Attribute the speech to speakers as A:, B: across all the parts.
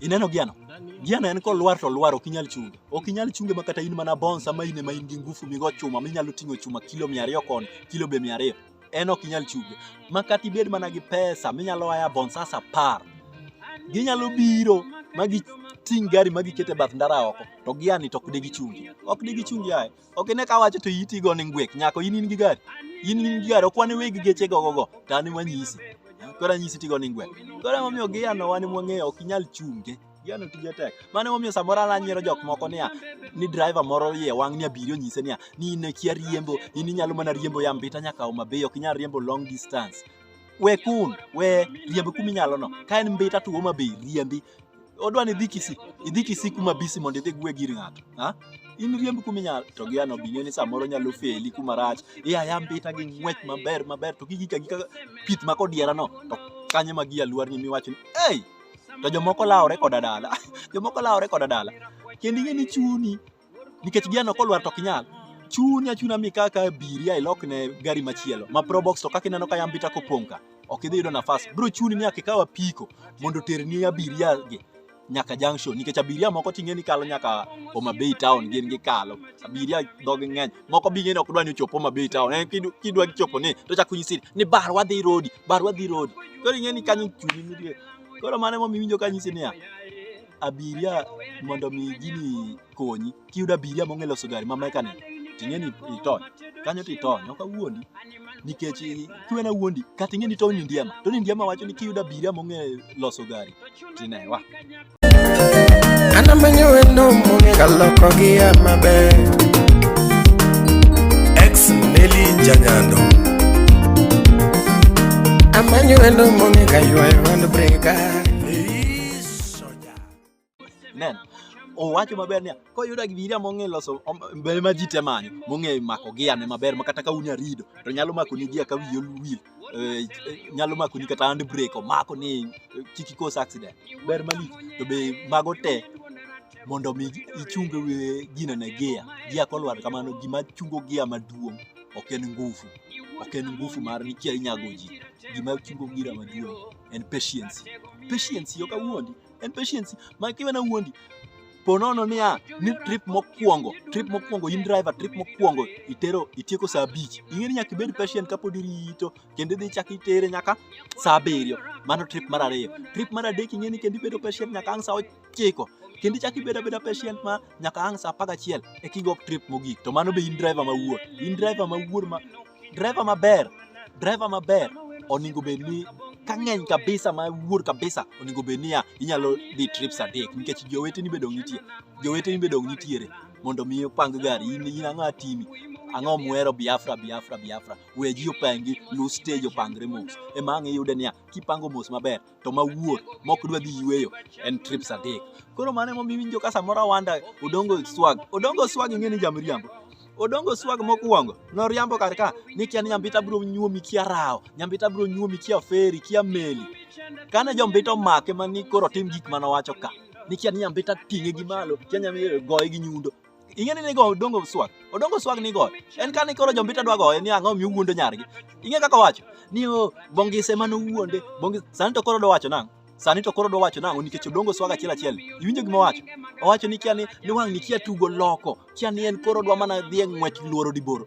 A: Ineno Giano? Giano en kolwar to lwar ok inyal chunge. Ok inyal chunge ma kata in mana bons ama in ema in gi ngufu migo chuma minyalo ting'o chuma kilo 200 kon, kilo be 200. En ok inyal chunge. Ma kata ibed mana gi pesa minyalo aya bons as apar. Ginyalo biro ma giting' gari ma gikete bath ndara oko to Giani to ok de gichungi. Ok de gichungi aye. ok ine ka wacho to iti go ni ngwek nyako in in gi gari in in gi gari ok wane weg geche go go to an wanyisi koro anyisi tigo ni ngwek koro emomiyo giyano wan mwang'eyo ok inyal chunge giyano tije tek mano emomiyo samoro an anyiero jok moko niya ni driver moro iye wang' ni abiriyo nyise niya ni in kia riembo in inyalo mana riembo ya mbita nyaka Homabay ok inyal riembo long distance we kun we riembi kuminyalono ka en mbita to Homabay riembi odwa ni idhi Kisii, idhi Kisii kuma bisi mondo idhi gwe gir ng'ato. Ha? In riemb kuma inyalo to gi ano bing'e ni samoro nyalo feli kuma rach. Iya aya mbita gi ng'wech maber maber to gigika gika pith ma kodiera no to kanye ma gi aluar ni miwacho ni hey! To jomoko lawore koda dala. jomoko lawore koda dala. Kendo ing'e ni chuni nikech gia no kolwar to ok nyal chuni achuna mi kaka biria ilokne gari machielo ma probox to kaka ineno ka yambita kopong' ka ok idhi yudo nafas bro chuni ni akikaw apiko mondo oterni abiria gi nyaka junction nikech abiria moko ting'e ni kalo nyaka Homa Bay town gin gi kalo abiria dhogi ng'eny moko bi ng'eni ok dwa ni ochop Homa Bay town en kidu- kidwa chopo ni to chak unyisi ni bar wadhi rodi bar wadhi rodi koro ing'eni kanyo chuni nitie koro mano emomiyo iwinjo ka nyisi niya abiria mondo mi gini konyi kiyudo abiria mong'e loso gari ma mekanik ting'e ni itony kanyo to itony ok awuondi nikech kiwena wuondi kata ing'e ni Tony Ndiema Tony Ndiema wacho ni kiyudo abiria mong'e loso gari tinewa
B: anamanyo wendo mong'e kaloko gi ya maber ex neli janyando amanyo wendo mong'e kaywayo wand breka Soja.
A: Nen. Owacho maber niya, koyudo abiria mong'e loso mbele ma ji te manyo, mong'e mako gi ane maber ma kata ka unya rido, to nyalo mako ni gia ka wiye oluwil. Eh, eh, nyalo mako ni kata hand brake omako ni eh, kik ikos accident. Ber malich. To be mago te mondo mi ichunge we gina ne gia. Gia kolwar kamano gima chungo gia maduong' ok en ngufu. Ok en ngufu mar ni kia inyago ji. Gima chungo gira maduong'. en patience. Patience yo kawuondi, en patience. Ma kiwe na wuondi, ponono niya ni trip mokwongo trip mokwongo in driver trip mokwongo itero itieko saa abich ing'e ni nyaka ibed patient kapod irito kendo idhi chak itere nyaka saa abiriyo mano trip mar ariyo trip mar adek ing'e ni kendo ibedo patient nyaka ang' saa ochiko kendo ichak ibedo abeda patient ma nyaka ang' saa apagachiel eka igo trip mogik to mano be in driver mawuor in driver mawuor ma driver maber driver maber oningo bed ni ka ng'eny kabisa ma wuor kabisa oningo bed niya inyalo dhi trips adek nikech joweteni be dong' nitie joweteni be dong' nitiere mondo mi opang gari in in ang'o atimi ang'o muhero biafra biafra biafra we ji opangi lu stage opangre mos ema ang' iyude niya kipango mos maber to mawuor mok dwa dhi yueyo en trips adek koro mano emomiyo iwinjo ka samoro awanda odongo swag odongo swag ing'e ni jamriambo odongo swag mokwongo noriambo kar ka ni kia ni nyambita biro nyuomi kia rawo nyambita biro nyuomi kia feri kia meli kane jombita omake mani koro tim gik manowacho ka ni kia ni nyambita ting'e gi malo kia nyambita goye gi nyundo ing'e ni nigo odongo swag odongo swag nigo en kani koro jombita dwa goye ni ang'o mi uwuondo nyargi ing'e kaka wacho ni o oh, bongise mano wuonde bongise sani to koro do wacho nang'o sani to koro do wacho nang'o nikech odongo swag achiel achiel iwinjo gima wacho owacho ni kia ni ni wang' ni kia tugo loko kia ni en koro dwa mana dhi e ng'wech luoro diboro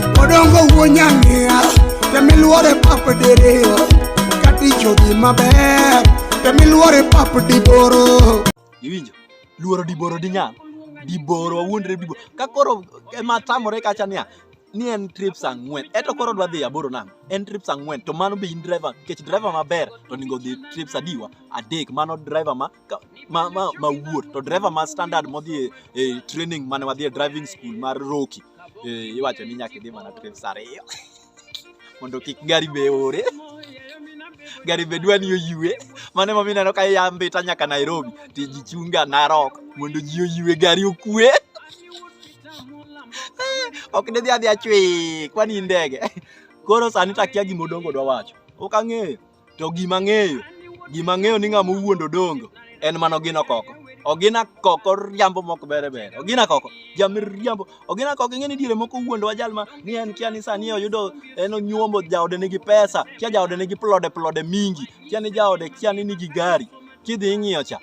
B: odongo wuonyang'ia temiluore pap diriyo katichodhi maber temiluore pap diboro iwinjo
A: luoro diboro dinyal diboro wawuondre diboro ka koro ema tamore kacha niya ni en trips ang'wen eto koro dwa dhi aboro nang en trips ang'wen to mano be in driver nikech driver maber to onego dhi trips adiwa adek mano driver ma ka- ma, ma, ma wuot to driver ma standard modhi e, e training mane wadhi e driving school mar Roki e, iwacho ni nyaka idhi mana trips ariyo mondo kik gari be ore gari be dwa ni oyue mane ma mineno ka iya mbita nyaka Nairobi ti ji chunga Narok mondo ji oyue gari okue ok nidhi adhi achwe kwani in ndege koro sani takia gima odongo dwa wacho ok ang'eyo to gima ng'eyo gima ng'eyo ni ng'ama owuondo dongo en mana ogina koko ogina koko riambo mok bere bere ogina koko jamir riambo ogina koko ing'e ni diere moko wuondo wa jal ma ni en kia ni sani oyudo en onyuomo jaode nigi pesa kia jaode nigi plode plode mingi kia ni jaode kia ni nigi gari kidhi ing'iyo cha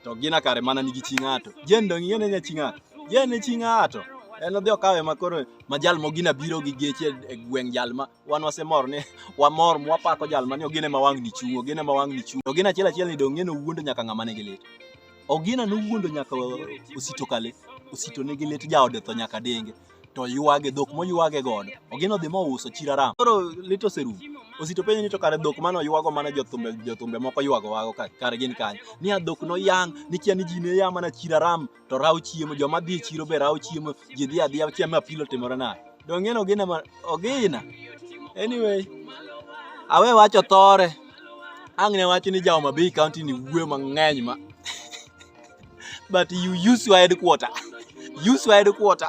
A: to ogina kare mana nigi chi ng'ato jen dong' ing'e ni nya chi ng'ato jen ni chi ng'ato en odhi okawe makoro ma jal mogina biro gi geche e gweng' jal ma wan wasemor ni wamor mwapako jal mani ogine ma wang'ni chung' ogine ma wang'ni chung' ogina achiel achiel ni dong' ng'e nowuondo nyaka ng'ama nigi lit ogina nowuondo nyaka osito kale osito nigi lit jaode tho nyaka denge to ywage dhok moywage godo ogina odhi mouso chiraram koro lit oserumo osito penjo ni to kare dhok mane oywago mana jothumbe jothumbe moko ywago wago kare gin kanye ni a dhok noyang' ni kia ni ji ne ya mana chiraram to rawo chiemo joma dhi e chiro be rawo chiemo ji dhi adhiya chiemo apilo timore naye dong'en ogina ma ogina anyway awe wacho thore ang' ne wacho ni jaoma bay county ni wuoyo mang'eny ma but you use your headquarter use your headquarter